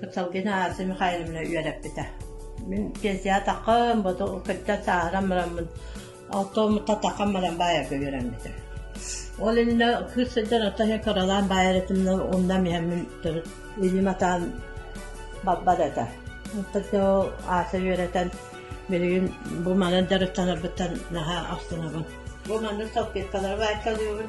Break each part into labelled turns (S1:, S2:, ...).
S1: Кытталгина Ася Михайловна үөрэппитэ. Мин пенсия таххан, бото кыттан сааһыран бараммын, оттоммутта таххан баран баайарга үөрэммитим. Ол иннэ кыыс сылдьан отто иһин кыралаан баайар этимнен унна миһэммин төрүт илим атаан баппат этэ. Оттон ол Ася үөрэтэн билигин бу манан дьарыктанарбыттан наһаа ахтынабын. Бу манан салпеткалары баайталыыбын.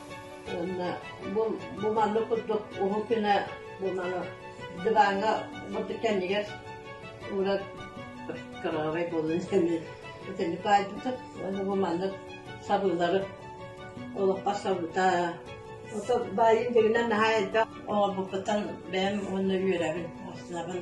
S1: Уонна бу, бу маннык курдук уһук күнэ буолан диваҥҥа бурдук кэннигэр уурар кыраҕабай буолан итини баайбытыт уонна бу маннык сабыылары олоххо сабыта ото баайын бүгүнэн наһаа элбэх оҥорбуппутан бэйэм уонна үөрэбин астынабын